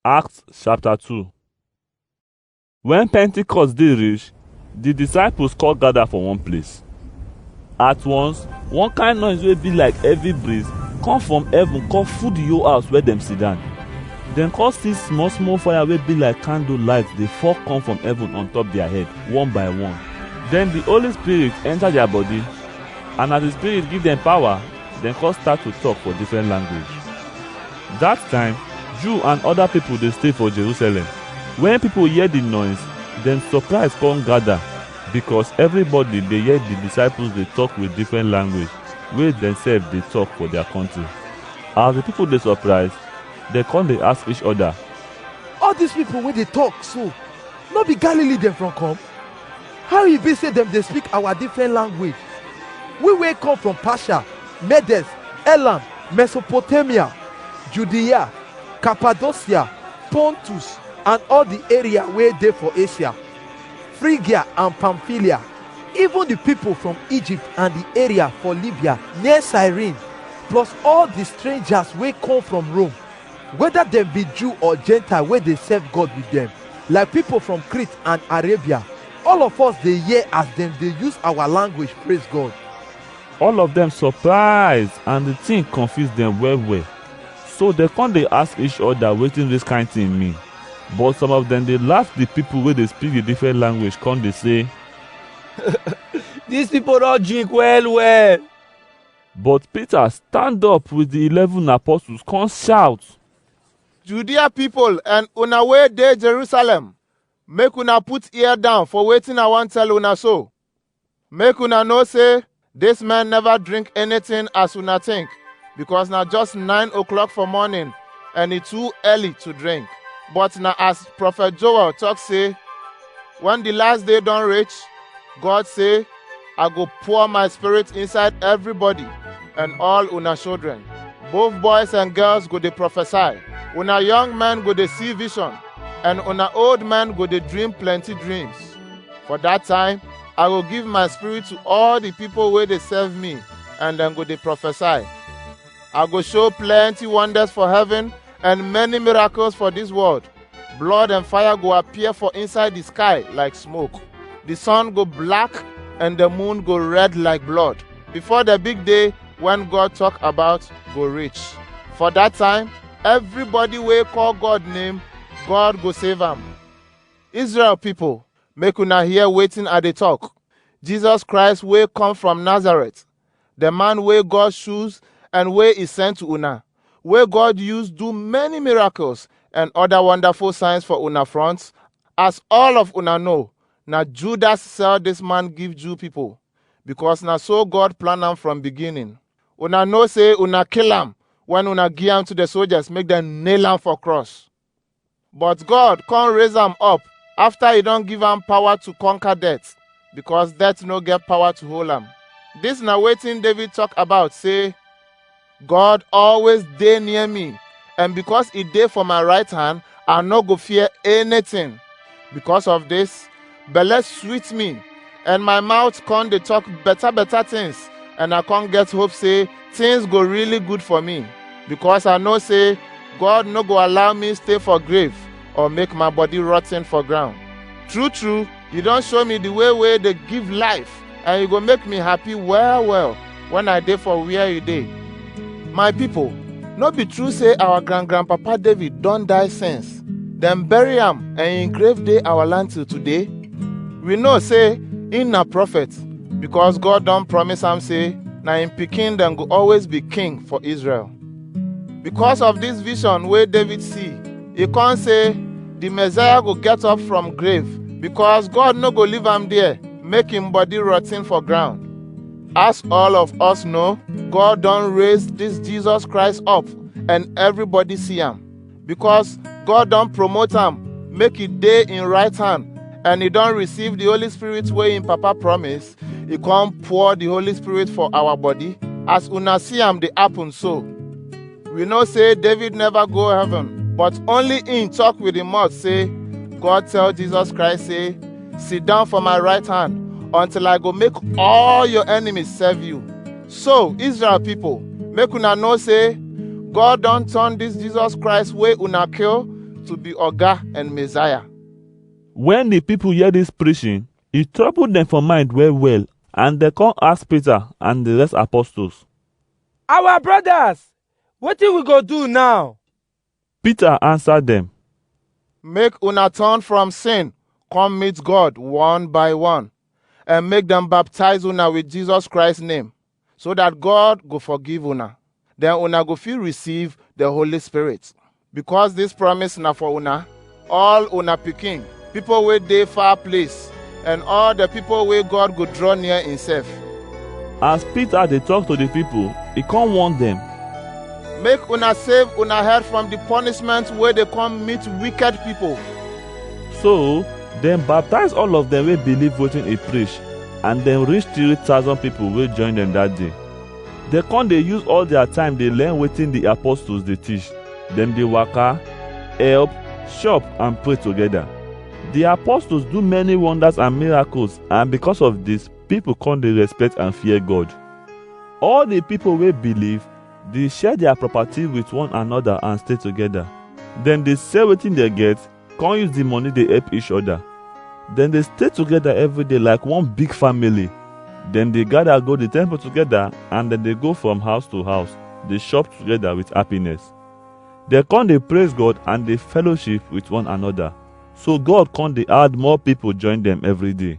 Acts chapter 2 When Pentecost dey reach, the disciples call gather for one place. At once, one kind noise wey be like heavy breeze come from heaven come full the whole house where dem sit down. Dem come see small small fire wey be like candle light dey fall come from heaven on top their head one by one. Then the Holy Spirit enter their body and as the Spirit give them power, dem come start to talk for different language. Dat time, Jew and oda pipo dey stay for Jerusalem. Wen pipo hear di nois, dem sopraiz kon gada, bikos evribody dey hear di disciples dey tok with difren language wey demsef dey tok for dia kontri. As di pipo dey sopraiz, dem kon dey ask each oda, All dis pipo wey dey tok so, nor be Galili dem from kom? How e be say dem dey speak our different language? We wey come from Persia, Medes, Elam, Mesopotamia, Judea, Cappadocia, Pontus, and all the area wey dey for Asia, Phrygia and Pamphylia, even the people from Egypt and the area for Libya near Cyrene, plus all the strangers wey come from Rome, weda dem bi Jew or Gentile wey dey serve God with dem, like pipol from Crete and Arabia, all of us dey hear as dem dey use awa language praise God. All of dem surprise and di tin konfuse dem well-well, so dem kon dey ask each oda wetin dis kain tin mean. But some of dem dey laff di pipol wey dey spik di difren language kon dey sey, Dis pipol don drink well-well! But Peter stand up with the eleven apostles, come shout. Judea people and una wey dey Jerusalem, make una put ear down for wetin I wan tell una so. Make una know say this man never drink anything as una think, because na just nine o'clock for morning and e too early to drink. But na as prophet Joel talk say, when the last day don reach, God say, I go pour my spirit inside everybody and all una children. Both boys and girls go dey prophesy. Una young men go dey see vision and una old men go dey dream plenty dreams. For that time, I go give my spirit to all the people wey dey serve me and dem go dey prophesy. I go show plenty wonders for heaven and many miracles for this world. blood and fire go appear for inside the sky like smoke the sun go black and the moon go red like blood before the big day when god talk about go reach for that time everybody wey call god name god go save am israel people make una hear wetin i dey talk jesus christ wey come from nazareth the man wey God choose and wey he send to una, wey God use do many miracles and other wonderful signs for una front, as all of una know, na Judas sell this man give Jew people, because na so God plan am from beginning. Una know say una kill am when una give am to the soldiers make them nail am for cross. But God come raise am up after he don give am power to conquer death, because death no get power to hold am. This na wetin David talk about say, God always dey near me, and because he dey for my right hand, I no go fear anything. Because of this, belle sweet me and my mouth come dey talk better better things and i come get hope say things go really good for me because i know say god no go allow me stay for grave or make my body rotten for ground true true you don show me the way wey dey give life and e go make me happy well well when I dey for where you dey. My people, no be true say our grand grandpapa David don die since. Dem bury am and im grave dey our land till today. We know say im na prophet because God don promise am say na im pikin dem go always be king for Israel. Because of this vision wey David see, e come say the Messiah go get up from grave because God no go leave am there make him body rotten for ground. As all of us know, God don raise this Jesus Christ up and everybody see am. because God don promote am make e dey im right hand and e don receive the Holy Spirit wey im papa promise, e come pour the Holy Spirit for our body as una see am dey happen so. We know say David never go heaven, but only im talk with im mouth say, God tell Jesus Christ say, sit down for my right hand until I go make all your enemies serve you. So, Israel people, make una know say God don turn this Jesus Christ wey una kill to be Oga and Messiah. When the people hear this preaching, it troubled them for mind well well, and they come ask Peter and the rest apostles. Our brothers, wetin we go do now? Peter answer dem, Make una turn from sin, come meet God one by one, and make dem baptize una with Jesus Christ name, so that God go forgive una. Then una go fit receive the Holy Spirit. Because this promise na for una, All una pikin, people wey dey far place, and all the people wey God go draw near himself. As Peter dey talk to the people, he come warn them. Make una save una head from the punishment wey dey come meet wicked people. So, dem baptize all of them wey believe wetin he preach, and dem reach 3,000 people wey join dem that day. Dem come dey use all their time dey learn wetin the apostles dey teach. Dem dey waka, help, chop, and pray together. The apostles do many wonders and miracles, and because of this, people come dey respect and fear God. All the people wey believe dey share their property with one another and stay together. Dem dey sell wetin dem get come use the money dey help each other. Dem dey stay together every day like one big family. Dem dey gather go the temple together and dem dey go from house to house, dey chop together with happiness. Dem come dey praise God and dey fellowship with one another. So God come dey add more people join dem every day.